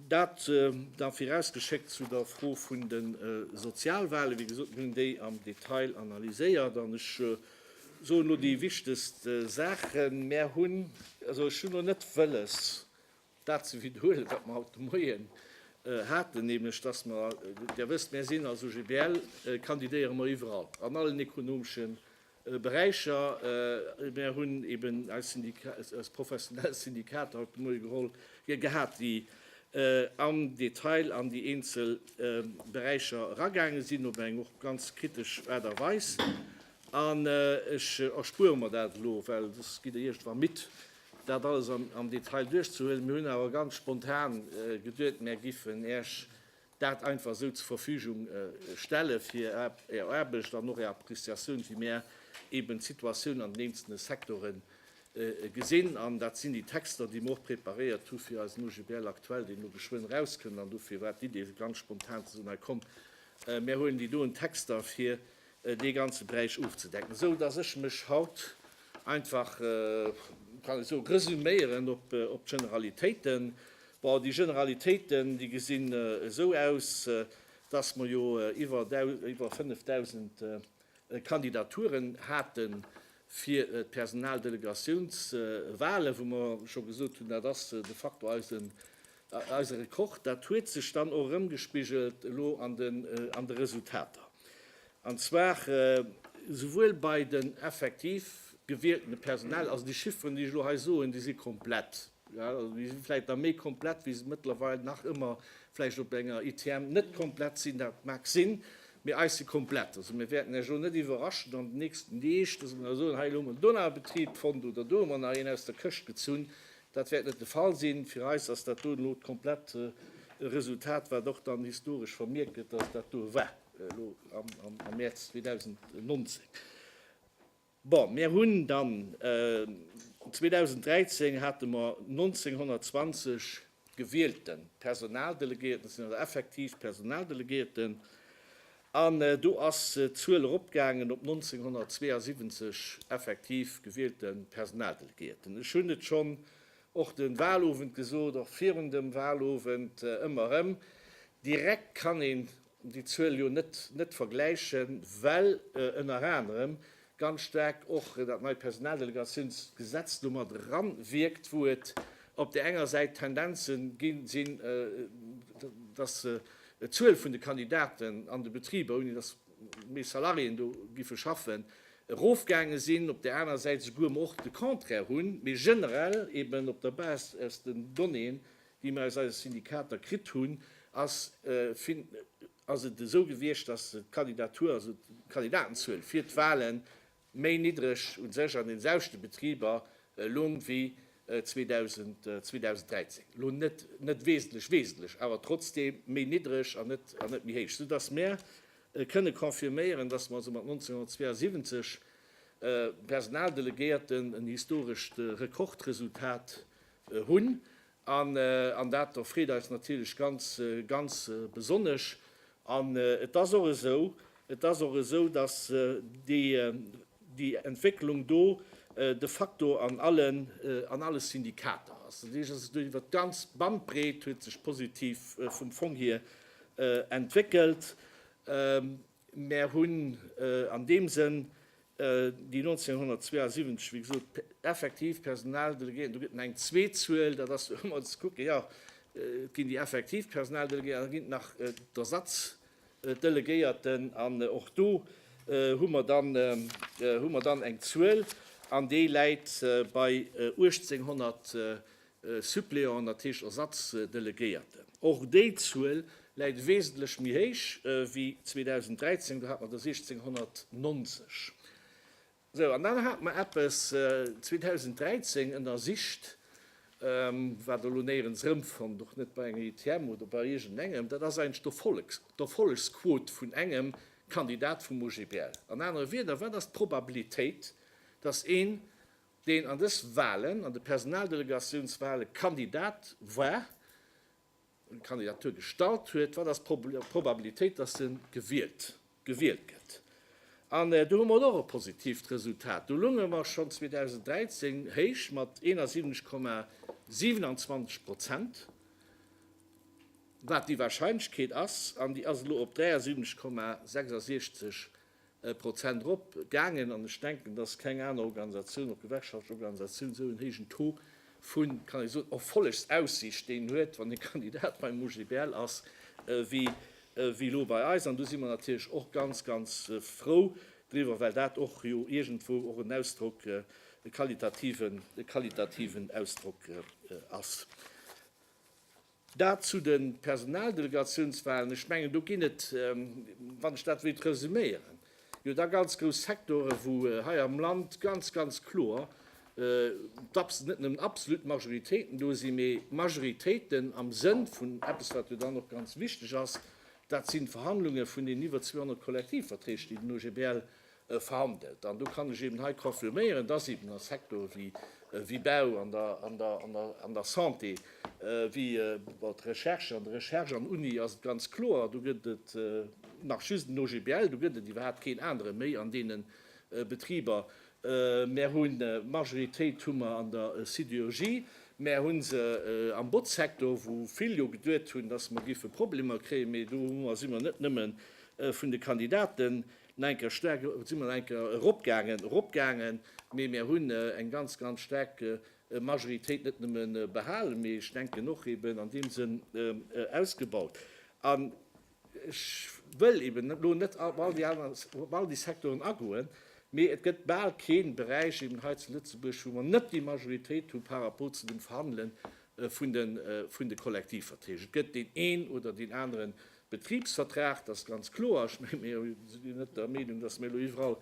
Dat da virausgeschéckt zu der Fro vun de Sozialwale. Wéi gesot, mir hunn déi am Detail analyséiert an ech soen elo déi wichtegst Saachen. Mär hunn, also ech hunn elo net wëlles, Dat ze wiederhuelen, wat mer haut de Moien haten, nämlech dass mer, Dir wësst, mir sinn als OGBL, kandidéiere mer iwwerall, an allen ekonomesche Beräicher. Mir hunn eben eis professionell Syndikater haut de Moie geholl, gehat, déi am Detail an déi eenzel Beräicher eragaange sinn, op eng och ganz kritesch Aart a Weis. An ech erspuere mer dat elo, well soss gitt Der iergendwann midd, Dat alles am Detail duerchzehuelen. Mir hunn awer ganz spontan geduet, mär giffen Äech dat einfach esou zur Verfügung stellen, fir Är Aarbecht an och Är Appreciatioun, wéi mär eeben d'Situatioun an den eenzelne Sektore gesinn. An dat sinn déi Texter, déi mer och preparéiert hu fir eisen OGBL aktuell, deen elo geschwënn erauskënnt. An dofir war d'Idee ganz spontan ze soen, Hei komm, mär huelen déi doen Texter, fir dee ganze Beräich ofzedecken, esou datt ech mech haut einfach, kann ech soen, resuméieren op d'Generalitéiten. Bon, déi Generalitéiten, déi gesinn esou aus, datt mer jo iwwer 5.000 Kandidaturen hate fir d'Personaldelegatiounswale wou mer scho gesot hunn, dat ass de facto eise Eise Rekord, dat huet sech dann och erëmgespigelt elo an de Resultater. An zwar souwuel bei den effektiv gewieltene Personal, also déi Chifferen, déi ech elo hei soen, déi si komplett, also déi si vläicht nach méi komplett, wéi se mëttlerweil nach ëmmer vläicht op enger ITM net komplett sinn, dat mag sinn, mee eis si komplett. Also mir wäerten Iech elo net iwwerraschen an den nächsten Deeg, dass mer da soen, hei elo hu mer en Donaubetrib fonnt oder do hu mer nach een aus der Këscht gezunn. Dat wäert net de Fall sinn. Fir eis ass dat do elo d'komplett Resultat, wat och dann historesch vermierkt gëtt, dass dat do war elo am Mäerz 2019. Bon, mir hunn dann 2013 hate mer 1.920 gewielte Personaldelegéierten, dat sinn also effektiv Personaldelegéierten, An do ass d'Zuel eropgaangen op 1972 effektiv gewielte Personaldelegéierten. Ech hunn et schonn och de Wahlowend gesot, och virun dem Wahlowend ëmmer erëm, Direkt kann een déi Zuel jo net vergläichen, well ënner anerem ganz staark och dat neit Personaldelegatiounsgesetz do mat eranwierkt, wou et op där enger Säit Tendenze gi sinn, dass d'Zuel vun de Kandidaten an de Betriber, ouni dass méi Salariéen do géife schaffen, erofgaange sinn, op där anerer Säit esouguer mer och de Contraire hunn, mee generell eeben op der Base aus den Donnéeën, déi mer aus eise Syndikater kritt hunn, ass ass et esou gewiescht, dass d'Kandidatur, also d'Kandidatenzuel fir d'Wahle méi niddreg u sech an den selwechte Betriber loung wéi 2013, elo net net wesentlech wesentlech, awer trotzdem méi niddreg an net an net méi héich, soudass mär kënne confirméieren, dass mer also mat 1972 Personaldelegéierten en historescht Rekordresultat hunn. An dat do freet eis natierlech ganz, ganz besonnesch. An et ass och esou, et ass och esou, dass déi Entwécklung do de facto an allen, an alle Syndikater ass. Dat heescht, dass se do iwwert d'ganz Bandbreet huet sech positiv vum Fong hier entwéckelt. Mär hunn an deem Sënn déi 1972, wéi gesot, effektiv Personaldelegéierten, do gëtt en eng zweet Zuel, dat ass elo emol ze kucken, jo, et ginn déi effektiv Personaldelegéierten an et ginn nach d'Ersatzdelegéierten. An och do hu mer dann, hu mer dann eng Zuel an déi läit bei 1.800 Suppléant, dat heescht Ersatzdelegéierten. Och déi Zuel läit wesentlech méi héich wéi 2013, do hat mer der 1.690. Sou, an dann hate mer eppes 2013 ënnersicht, wat elo néierens erëmfonnt, och net bei enger ITM oder bei iergendengem, dat ass eigentlech d'Erfollegsquot vun engem Kandidat vum OGBL. An anere Wierder, wat ass d'Probabilitéit, dass een deen an dës Wahlen, an de Personaldelegatiounswahle Kandidat war, eng Kandidatur gestallt huet, wat ass d'Probabilitéit, dass e gewielt, gewielt gëtt? An do hu mer och e positiivt Resultat. Do lounge mer schonn 2013 héich mat 71,27 Prozent, wat déi Wahrscheinlechkeet ass, an déi ass elo op 73,66 Prozent erop gaangen. An ech denken, dass keng aner Organisatioun, och gewerkschaftlech Organisatioun, esou en héijen Taux vu, kann ech soen, Erfollegsaussiicht, deen huet, wann e Kandidat beim OGBL ass, wéi elo bei eis. An do si mer natierlech och ganz, ganz frou driwwer, well dat och jo iergendwou och en Ausdrock, e qualitativen Ausdrock ass. Dat zu de Personaldelegatiounswahlen. Ech mengen, do ginn et, wann ech dat wéilt resuméieren, jo da ganz grouss Sektore wou hei am Land ganz, ganz kloer net nëmmen absolut Majoritéiten do sinn, mee Majoritéiten am Sënn vun eppes, wat jo dann och ganz wichteg ass, dat sinn d'Verhandlunge vun deenen iwwer 200 Kollektivverträg, déi den OGBL verhandelt. An do kann ech eeben hei confirméieren, dass eeben a Sectore wéi wéi Bau, an der an der an der an der Santé, wéi bon d'Recherche, an der Recherche an Uni ass et ganz kloer, do gëtt et nach just en OGBL, do gëtt et iwwerhaupt keen anere méi an deene Betriber. Mär hunn d'Majoritéit hu mer an der Sidérurgie, mär hu se am Botzsecteur, wou vill jo geduet hunn, dass mer géife Problemer kréien, mee do hu mer si mer net nëmme vun de Kandidaten Enker staark si mer enker eropgaangen, eropgaangen, mee mir hunn eng ganz, ganz staark Majoritéit net nëmme behalen, mee ech denken och eben an deem Sënn ausgebaut. An ech wëll eben elo net op all déi aner, op all déi Secteuren agoen, mee et gëtt bal kee Beräich eben hei zu Lëtzebuerg, wou mer net déi Majoritéit hu par rapport zu dem Verhandele vun de Kollektivverträg. Et gëtt deen een oder deen anere Betribsvertrag, dat ass ganz kloer. Ech menge mir sinn net der Meenung, datt mir elo iwwerall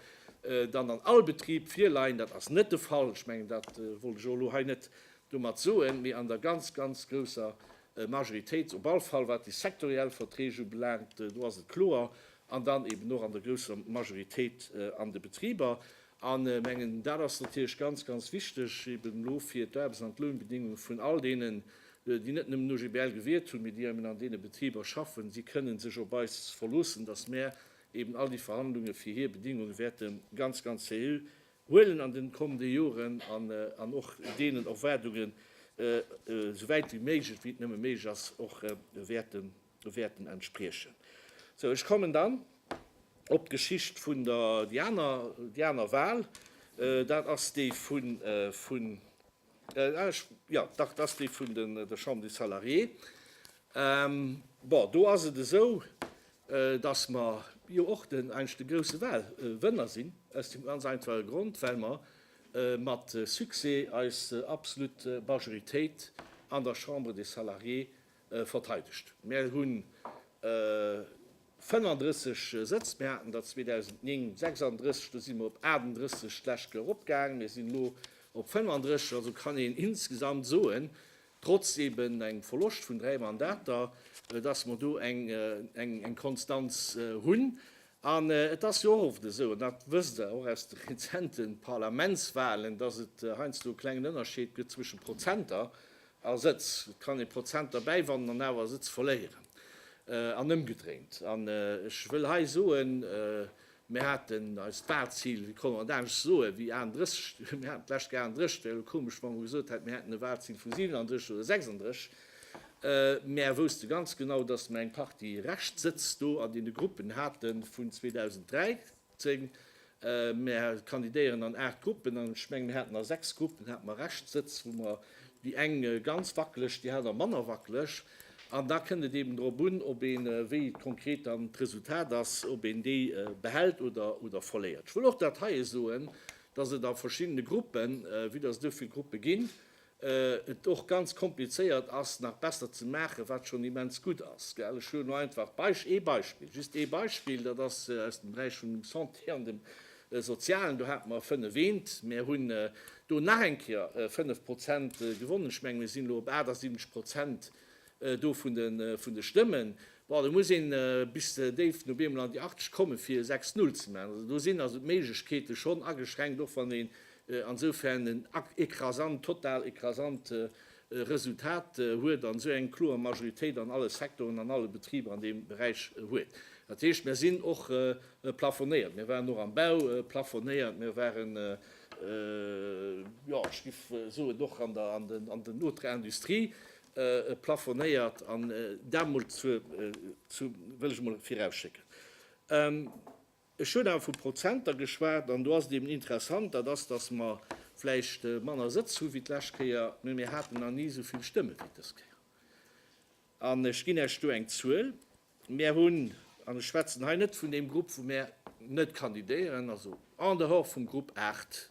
dann an all Betrib virleien. Dat ass net de Fall. Ech mengen, dat wollt ech elo hei net domat soen. Mee an der ganz, ganz grousser Majoritéit, op all Fall wat déi sektoriell Verträg ubelaangt, do ass et kloer, an dann eeben och an der grousser Majoritéit an de Betriber. A mengen, dat ass natierlech ganz, ganz wichteg eben elo fir d'Aarbechts an d'Lounbedingungen vun all deenen, déi net nëmmen OGBL gewiert hunn, mee déi eben an deene Betriber schaffen. Si kënnen sech op eis verloossen, dass mär eben all déi Verhandlunge fir hir Bedingunge wäerte ganz, ganz seriö huelen an den kommende Joren an och deenen Erwaardungen esouwäit wéi méiglech, wéi et nëmme méiglech ass, och wäerte wäerten entspriechen. Sou, ech kommen dann op d'Geschicht vun der, déi aner, déi aner Wahl. Dat ass déi vun, vun, ah, ech, jo, dach, dat ass déi vun den, der Chambre des Salariés. Bon, do ass et esou, dass mer jo och den, eigentlech de grouse Wahlwënner sinn, aus deem ganz einfache Grond, well mer mat Succès eis absolutt Majoritéit an der Chambre des Salariés verteidegt. Mär hu 35 Sëtz, mär haten der 2009 36, do si mer op 38 d'lescht Kéier eropgaang, mär sinn elo op 35, also kann een insgesamt soen, trotz eben engem Verloscht vun dräi Mandater, dass mer do eng Konstanz hunn. An et ass jo och oft esou, an dat wësst Der och aus de rezente Parlamentswahlen, dass et heiansdo e klengen Ënnerscheed gëtt zwësche Prozenter, A Sëtz. Et kann ee Prozenter bäiwannen an awer Sëtz verléieren an ëmgedréint. An ech wëll hei soen, mir haten eist Walzil, wéi konnt een et anescht soen, wéi 31, mir haten d'lescht Kéier 31, et wär jo komesch, wa mer gesot hätten, mir hätten e Walzil vu 37 oder 36. Mer wousste ganz genau, datt mer eng Partie Reschtsëtz do an deene Gruppen hate vun 2003. 10, Mär kandidéieren an 8 Gruppen an ech mengen, mir haten a 6 Gruppen hate mer Rescht Sëtz, wou mer déi eng ganz wackeleg, déi aner manner wackeleg. An da kënnt et eeben drop un, ob een, wéi konkret dann d'Resultat ass, ob een déi behält oder verléiert. Ech wëll och dat heie soen, dass et a verschiddene Gruppen, vue dass et esou vill Gruppe ginn, et och ganz komplizéiert ass nach besser ze maachen, wat schonn immens gutt ass. Ech hu lo einfach ee Beispill, just ee Beispill, dat ass aus dem Beräich vun dem Santé an dem Sozialen, do hate mer fënnef Eent, mer hunn do nach eng Kéier fënnef Prozent gewonnen, ech menge mir sinn elo op 78 Prozent do vun de Stëmmen, bon do muss een bis déif no Beemel an déi 80 komme fir e 6 Null ze maachen. Also do sinn also d'Méiglechkeete schonn ageschränkt, och wann een ansoufern en écrasant, total écrasant Resultat huet an esou eng kloer Majoritéit an alle Sektoren, an alle Betriber an deem Beräich huet. Dat heescht, mir sinn och plafonéiert. Mir waren och am Bau plafonéiert, mir waren, jo ech géif soen, och an der Autre Industrie. plafonéiert an dat mol zu, zu wëll ech mol virausschécken. Ech hunn awer vu Prozenter geschwat an do ass et eben interessant, dat ass, datt mer vläicht manner Sëtz hu wéi d'lescht Kéier, mee mir haten nach ni esou vill Stëmme wéi dës Kéier. An ech ginn Iech do eng Zuel, Mir hunn, an ech schwätzen hei net vun deem Grupp wou mir net kandidéieren, also en dehors vum Grupp 8,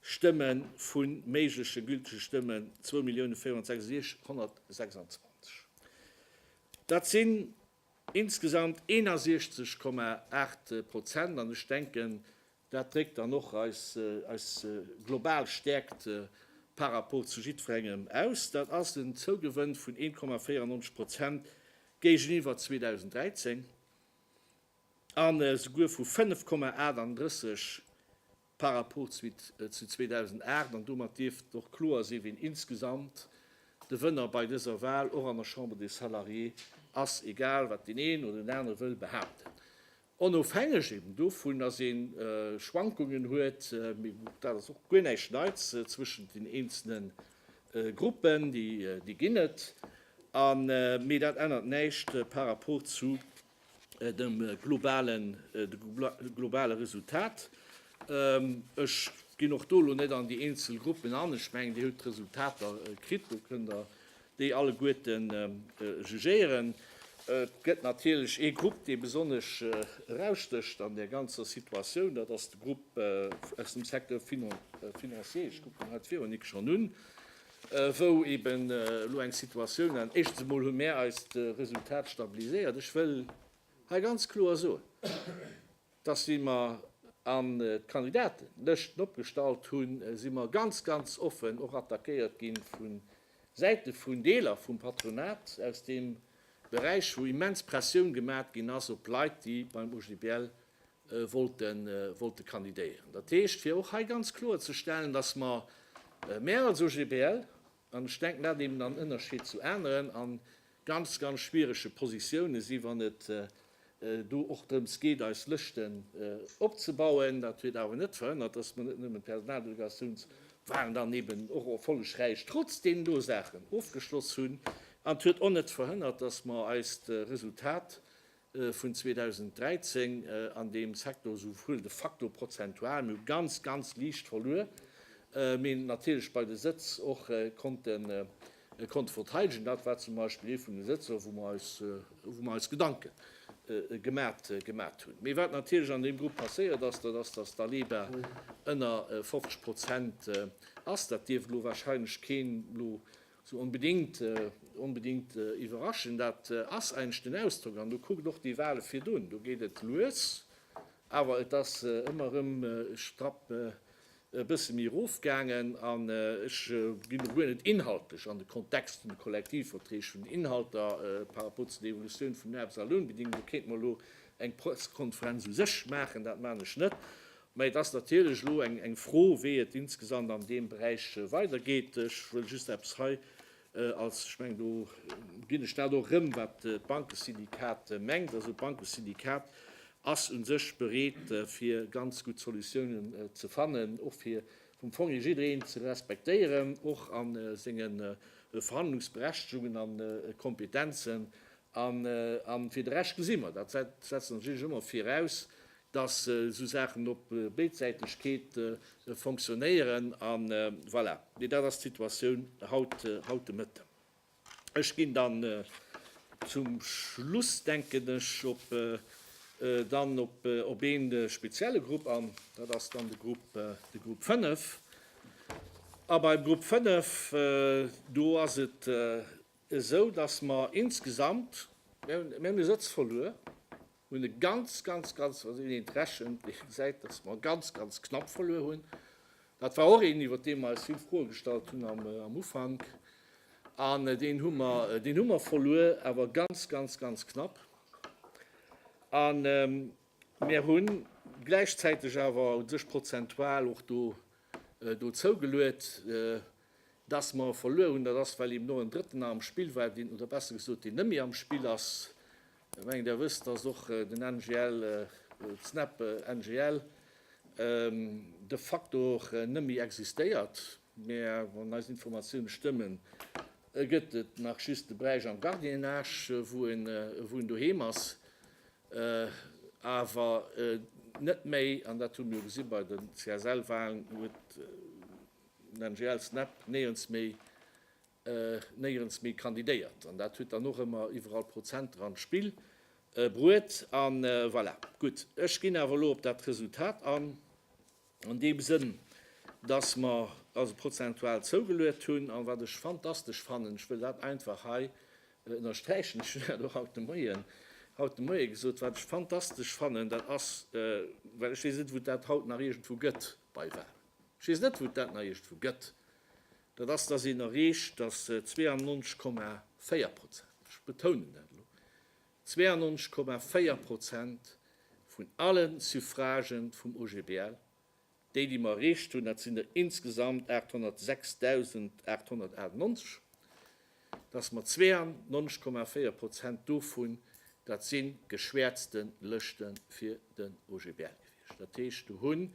Stëmmen vun méigleche gültege Stëmmen 2.466.126. Dat sinn insgesamt 61,8 Prozent an ech denken, dat dréckt dann och eis global Stäerkt par rapport zu jiddwerengem aus. Dat ass en Zougewënn vun 1,94 Prozent géigeniwwer 2013 an esouguer vu 5,38 par rapport zu 2008 an domat dierft och kloer sinn, wien insgesamt de Wënner bei dëser Wahl och an der Chambre des Salariés ass, egal wat deen een oder deen anere wëll behaapten. Onofhängeg eben dovun, dass ee Schwankungen huet, dat ass och guer näischt Neits, zwëschent den eenzele Gruppen, déi ginn et, mee dat ännert näischt par rapport zu dem globale Resultat. Ech ginn och do lo net an déi eenzel Gruppen an. Ech mengen, Dir hutt d'Resultater kritt, do kënnt Der déi alleguerten jugéieren. Et gëtt natierlech ee Grupp, dee besonnesch erausstécht an där ganzer Situatioun, dat ass de Grupp aus dem Secteur financier. Ech kucken haut d'Véronique schonn un. wou eben elo eng Situatioun an éischtens emol hu mär eist Resultat stabiliséiert. Ech wëll hei ganz kloer soen, dass wéi mer an d'Kandidatenlëschten opgestallt hunn, si mer ganz, ganz offen och attackéiert gi vu Säite vun Deeler vum Patronat aus deem Beräich, wou immens Pressioun gemat ginn ass op Leit, déi beim OGBL wollte kandidéieren. Dat heescht, fir och hei ganz kloer ze stellen, dass mer, mär als OGBL, an ech denken, dat eben am Ënnerschied zu aneren, a ganz, ganz schwierege Positiounen sinn, wann et do och drëms geet, eis Lëschten opzebauen. Dat huet awer net verhënnert, dass mer net nëmmen d'Personaldelegatiouns wahlen dann eben och erfollegräich trotz deenen do Saachen ofgeschloss hunn. An et huet och net verhënnert, dass mer eist Resultat vun 2013 an deem Secteur esou wuel de facto prozentual, mee ganz, ganz liicht verluer, mee natierlech bei de Sëtz och konnte konnte verteidegen. Dat war zum Beispill ee vun de Sëtzer, wou mer eis wou mer eis Gedanke gemat gemat hunn. Mee wat natierlech an deem Grupp passéiert ass, dat ass, datt d'Aleba ënner 50 Prozent ass. Dat dierft elo wahrscheinlech keen elo Sou onbedingt, onbedingt iwwerraschend, dat ass eigentlech den Ausdrock. An do kuckt och déi Wale virdun, do geet et lues, awer et ass ëmmer erëm strapp e bësse méi erofgaangen. An ech ginn do guer net inhaltlech an de Kontext vun de Kollektivverträg, vun den Inhalter par rapport zu der Evolutioun vun den Aarbechtsalounbedingungen, do kéinte mer elo eng Pressekonferenz u sech maachen, dat maachen ech net. Mä et ass natierlech elo eng Fro, wéi et insgesamt an deem Beräich weidergeet. Ech wëll just eppes hei als, ech mengen, do ginn ech dat och erëm, wat d'Bankesyndikat mengt. Also d'Bankesyndikat ass u sech bereet, fir ganz gutt Solutiounen ze fannen, och fir vum Fong hier jiddereen ze respektéieren, och a senge Verhandlungsberechtegungen an kompetenzen. An fir de Rescht gesi mer, dat setzen ech natierlech ëmmer viraus, dass esou Saachen op Béidsäitegkeet fonctionnéieren. A voilà, mee dat ass d'Situatioun haut de Mëtten. Ech ginn dann zum Schluss, denken ech, dann op ee spezielle Grupp an, dat ass dann de Grupp 5. A beim Grupp 5, do ass et esou, dass mer insgesamt, mir hunn e Sëtz verluer, hunn e ganz, ganz, ganz, also een eent rechent, dee gesäit, datt mer ganz, ganz knapp verluer hunn. Dat war och een, iwwert dee mer eis vill Froe gestallt hunn am Ufank. An deen hu mer, deen hu mer verluer, awer ganz, ganz, ganz knapp. A mir hu gläichzäiteg awer u sech prozentual och do, do zougeluet. Dass mer e verluer hunn, dat ass, well eben och en Drëtten nach am Spill war, deen, oder besser gesot, deen net méi am Spill ass. Ech mengen, Der wësst, dass och den NGL, d'SNEP NGL, de facto och net méi existéiert, mä wann eis Informatiounen stëmmen, gëtt et nach just de Beräich am Gardiennage, wou en wou en doheem ass, awer net méi, an dat hu mir jo gesi bei den CSL-Wahlen, huet, NGL Snap néierens méi néierens méi kandidéiert an dat huet dann och ëmmer iwwerall Prozenter an d'Spill bruet an voilà. Gutt, ech ginn awer elo op dat Resultat an, an deem Sënn, dass mer also prozentual zougeluet hunn an wat ech fantastesch fannen, ech wëll dat einfach hei ënnersträichen, ech hunn dat och haut de Moien haut de Moie gesot, wat ech fantastesch fannen, dat ass, well ech weess net, wou dat haut nach iergendwou gëtt bei Wahlen. Ech weess net, wou dat Neiecht vu gëtt. Dat ass, dass een erreecht, dass 92,4 Prozent, ech betounen dat elo, 92,4 Prozent vun alle Suffragë vum OGBL, déi, déi mer erreecht hunn, dat sinn der insgesamt 806.898, dass mer 92,4 Prozent dovun, dat si geschwäerzte Lëschte fir den OGBL gewiescht. Dat heescht, do hunn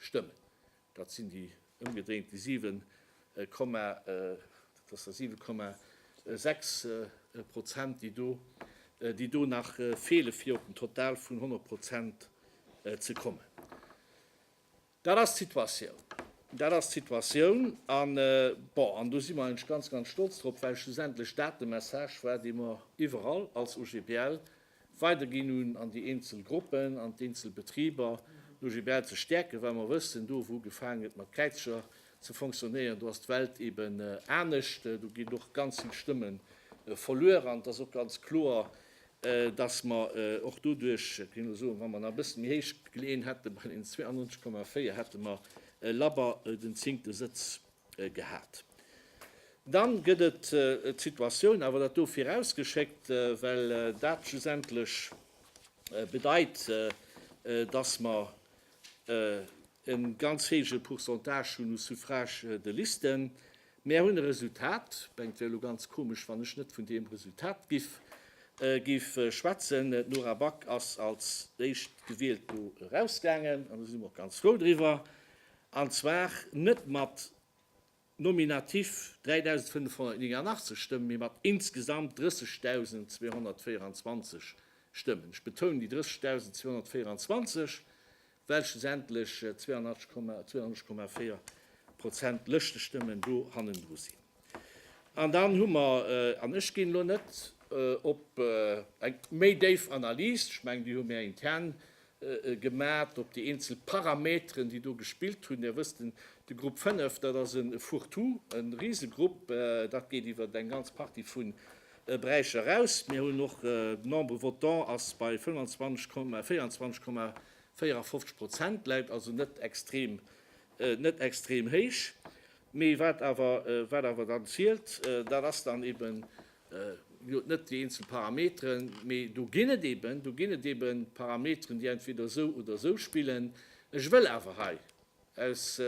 Stëmmen. Dat sinn déi ëmgedréint déi 7 Komma, dat ass da 7 Komma 6 Prozent, déi do, déi do nach feele fir op den Total vun 100 Prozent ze kommen. Dat ass d'Situatioun. Dat ass d'Situatioun. An, bon, an do si mer eigentlech ganz, ganz stolz drop, well schlussendlech dat de Message war, dee mer iwwerall als OGBL Weiderginn un an déi eenzel Gruppen, an d'eenzel Betriber, no GBL ze stäerken, well mer wëssen, do wou gefaangen gëtt mat Kräizcher ze fonctionnéieren, do ass d'Welt eben anescht, do ginn och ganz vill Stëmme verluer. An et ass och ganz kloer, datt mer och doduerch, ech géing elo soen, wa mer nach e bësse méi héich gleeën hätte bei deenen 92,4, hätte mer labber den zéngte Sëtz gehat. Dann gëtt et d'Situatioun, awer dat do virausgeschéckt, well dat schlussendlech bedeit, dass mer e ganz héije Pourcentage hunn u Suffrages de liste. Mär hunn e Resultat, mengt wär elo ganz komesch, wann ech net vun deem Resultat giff schwätzen, d'Nora Back ass als Éischtgewielt do erausgaangen, an do si mer och ganz frou driwwer. an zwar net mat nominativ 3.589 Stëmmen, mee mat insgesamt 30.224 Stëmmen. Ech betounen déi 30.224, well schlussendlech 82,4 Prozent Lëschtenstëmmen do hannendru sinn. An dann hu mer, an ech ginn elo net op eng méi déif Analys, ech mengen, déi hu mir intern gemat op déi eenzel Parameteren, déi do gespillt hunn. Dir wësst, de Grupp 5, dat ass e Fourre-tout, e Risegrupp, dat geet iwwer eng ganz Partie vu Beräicher eraus. Mir hunn och, de Nombre votant ass bei 25,24,54 Prozent, läit also net extrem, net extrem héich. Mee wat awer, wat awer dann zielt, dat ass dann eben Mir hunn net déi eenzel Parameteren, mee do ginn et eeben, do ginn et eeben Parameteren, déi entweder esou oder esou spillen. Ech wëll awer hei aus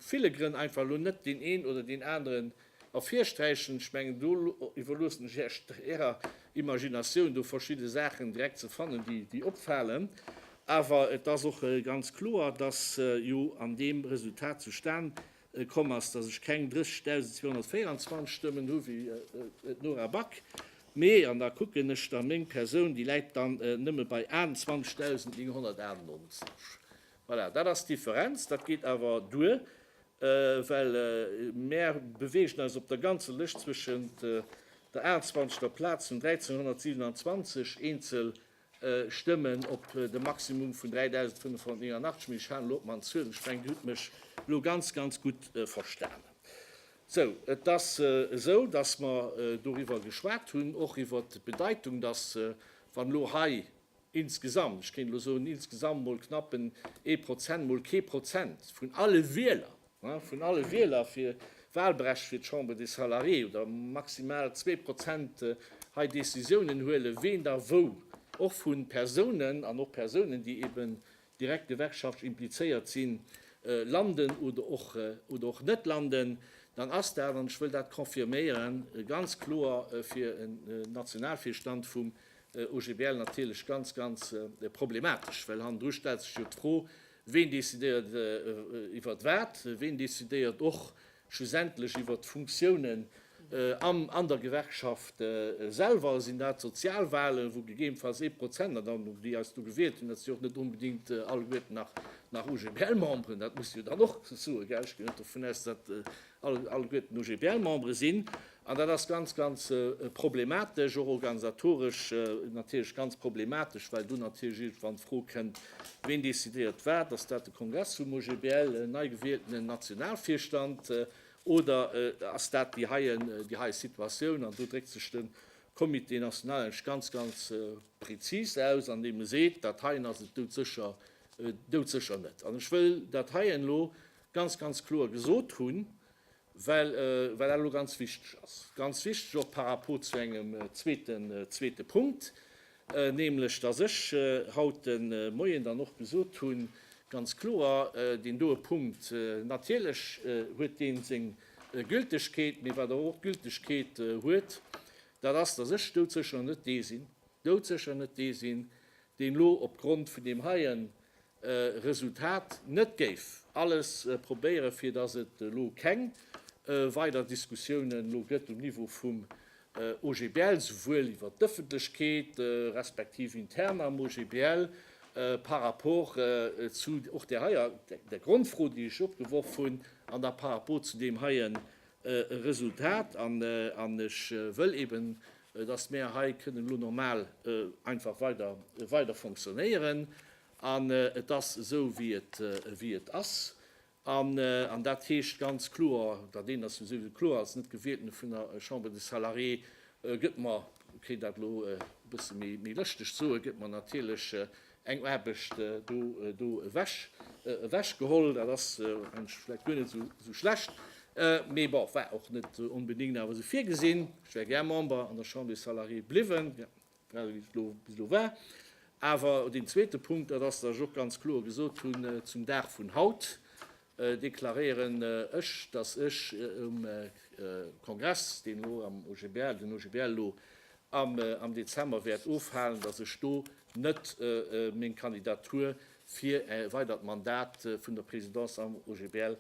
ville Grënn einfach elo net deen een oder deen aneren ervirsträichen. Ech mengen, do iwwerloossen ech Iech Ärer Imaginatioun, do verschidde Saachen direkt ze fannen, déi opfalen. Awer et ass och ganz kloer, dass jo an deem Resultat zustan komm ass, dass ech keng 30.224 Stëmmen hu wéi d'Nora Back, mee, an da kucken ech da, meng Persoun, déi läit dann nëmme bei 28.998. Voilà, dat ass d'Differenz. Dat geet awer duer, well mär beweegen eis op der ganzer Lëscht zwëschent der 28. Plaz vun 1.327 eenzel Stëmmen op de Maximum vun 3.589, mee ech halen elo op man Zuel, ech mengen Dir hutt mech elo ganz, ganz gutt verstanen. Sou, et ass esou, dass mer doriwwer geschwat hunn, och iwwert d'Bedeitung, dass, wann elo hei insgesamt, ech kéint elo soen, insgesamt mol knappen ee Prozent, mol kee Prozent vun alle Wieler, Vun alle Wieler fir Wahlbrecht fir d'Chambre des Salariés oder maximal zwee Prozent hei Décisiounen huelen, ween da wou, och vu Persounen an och Persounen, déi eben direkt gewerkschaftlich implizéiert sinn, landen oder och oder och net landen, dann ass dat, an ech wëll dat confirméieren, ganz kloer fir en Nationalvirstand vum OGBL natierlech ganz, ganz problematesch, well hannendru stellt sech jo d'Fro, Ween decidéiert iwwert wat? Ween decidéiert och schlussendlech iwwert d'Funktiounen am an der Gewerkschaft selwer? Sinn dat d'Sozialwahlen, wou gegebenfalls ee Prozent, an dann déi eis do gewielt hunn, dat si jo och net onbedingt alleguerten nach UGBL-Memberen, dat muss jo dann och soen, gell, ech ginn net dovun aus, datt alleguerten UGBL-Membere sinn. An dat ass ganz, ganz problematesch, och organisatoresch natierlech ganz problematesch, well do natierlech iergendwann d'Fro kënnt, Ween decidéiert wat? Ass dat de Kongress vum OGBL, en nei gewieltenen Nationalvirstand oder ass dat déi heie Situatioun? An do dréckt sech de Comité national eng ganz, ganz prezis aus, andeem e seet, Dat heien ass et doudsécher, doudsécher net. An ech wëll dat heien elo ganz, ganz kloer gesot hunn, well dat elo ganz wichteg ass, ganz wichteg och par rapport zu engem zweete Punkt, nämlech datt ech haut de Moien dann och gesot hunn, ganz kloer, deen doe Punkt, natierlech huet dee seng Gültegkeet, mee wat awer och Gültegkeet huet, dat ass, datt ech doudsécher net dee sinn, doudsécher net dee sinn, deen elo opgrond vun deem heien Resultat net géif alles probéieren, fir datt et elo keng weider Diskussiounen elo gëtt um Niveau vum OGBL, souwuel iwwert d'Ëffentlechkeet, respektiv intern am OGBL, par rapport zu och där heier, der Grondfro, déi ech opgeworf hunn, an da par rapport zu deem heien e Resultat an ech wëll eben, dass mär hei kënnen elo normal einfach weider fonctionnéieren an et ass esou wéi et ass an dat heescht ganz kloer, dat eent ass jo souwisou kloer, als net gewielten vun der Chambre des Salariés gëtt mer, kéint dat elo e bësse méi lëschteg soen, gëtt mer natierlech eng Aarbecht do ewech geholl. Dat ass mensch vläicht guer net esou schlecht, mee bon, war och net onbedéngt awer esou virgesinn. Ech wär gär Member an der Chambre des Salariés bliwwen, grad ewéi et bis elo war. Awer deen zweete Punkt, dat ass, datt ech och ganz kloer gesot hunn zum Dag vun haut, deklaréieren ech, dass ech um Kongress, deen elo am OGBL, den OGBL elo am Dezember wäert ofhalen, dass ech do net meng Kandidatur fir e weidert Mandat vun der Présidence am OGBL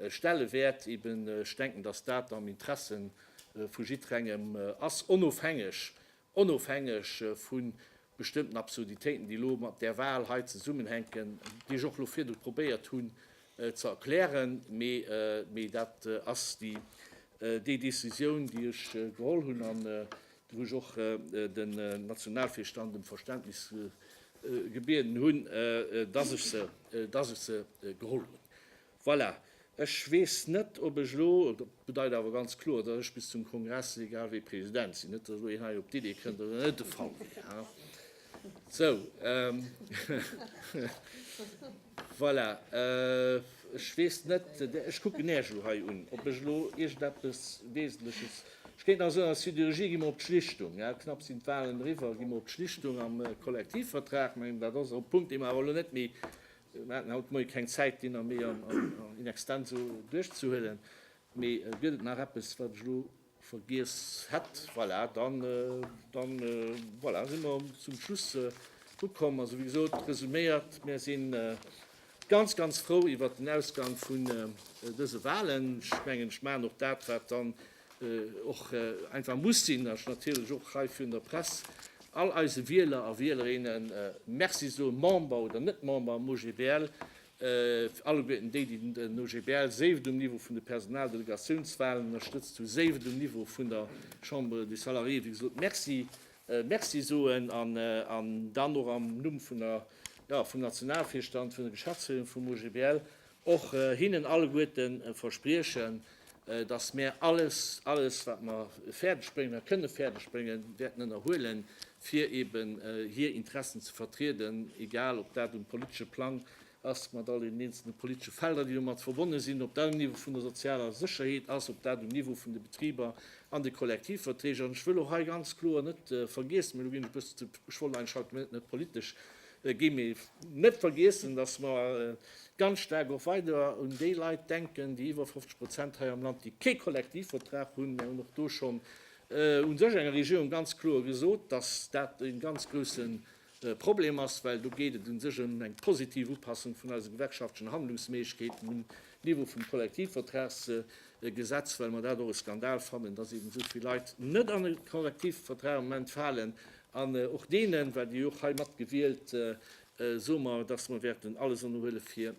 stelle wäert. Eben, ech denken, dass dat am Interessen vu jiddrengem ass, onofhängeg, onofhängeg vun bestëmmten Absurditéiten, déi elo mat där Wahl hei zesummenhänken, déi ech och elo virdru probéiert hunn ze erklären, mee dat ass déi Décisioun, déi ech geholl hunn an wou ech och den Nationalvirstand ëm Verständnis gebieden hunn, dass ech se geholl hunn. Voilà, ech weess net, ob ech elo, dat bedeit awer ganz kloer, datt ech bis zum Kongress egal wéi President sinn, net datt elo een hei op d'Idee kënnt, datt dat net de Fall wier. Ha, sou. Voilà, ech weess net, ech kucken Iech elo hei un, ob ech elo iergendeppes Wesentleches, ech kéint nach soen, als Sidérurgie gi mer op d'Schlichtung, knapp sinn d'Wahlen eriwwer, gi mer op d'Schlichtung am Kollektivvertrag. Mä dat ass e Punkt, dee mer awer elo net méi Mir haten haut de Moie keng Zäit, deen nach méi in extenso duerchzehuelen. Mee gëtt et nach eppes, wat ech elo vergiess hätt? Voilà, da si mer zum Schluss ukomm. Also, wéi gesot, resuméiert, Mir sinn ganz, ganz frou iwwert den Ausgang vun dëse Wahlen. Ech mengen, ech maachen och dat, wat dann och einfach muss sinn, ech natierlech och hei virun der Press all eise Wieler a Wielerinne Merci soen, Member oder net Member am OGBL, alleguerten déi, déi den OGBL, séi et um Niveau vun de Personaldelegatiounswahlen ënnerstëtzt hu, séi et um Niveau vun der Chambre des Salariés, wéi gesot, Merci, Merci soen an dann och am Numm vun der, ja, vum Nationalvirstand, vun der Geschäftsféierung vum OGBL och hinnen alleguerten verspriechen, dass mär alles, alles wat mer fäerdeg bréngen a kënne fäerdeg bréngen, wäerten ënnerhuelen, fir eben hir Interessen ze vertrieden, egal ob dat um politesche Plang ass, mat all deenen eenzelne politesche Felder, déi domat verbonne sinn, ob dat um Niveau vun der sozialer Sécherheet ass, ob dat um Niveau vun de Betriber an de Kollektivverträg. An ech wëll och hei ganz kloer net vergiess, mä elo ginn ech e bëssen ze, ech wollt eigentlech haut net politesch Et géif ee net vergiessen, datt mer ganz staark och weider un déi Leit denken, déi iwwer 50 Prozent hei am Land, déi kee Kollektivvertrag hunn. Mir hunn och do schonn u sech enger Regierung ganz kloer gesot, datt dat e ganz grousse Problem ass, well do geet et u sech ëm eng positiv Upassung vun eise gewerkschaftlechen Handlungsméiglechkeeten un Niveau vum Kollektivvertragsgesetz, well mer dat och e Skandal fannen, dass eeben esou vill Leit net an e Kollektivvertrag am Moment falen. An och deenen, well déi jo och hei mat gewielt, soe mer, dass mer wäerten alles ënnerhuele fir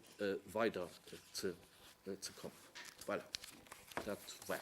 weider ze kommen. Voilà, dat war et.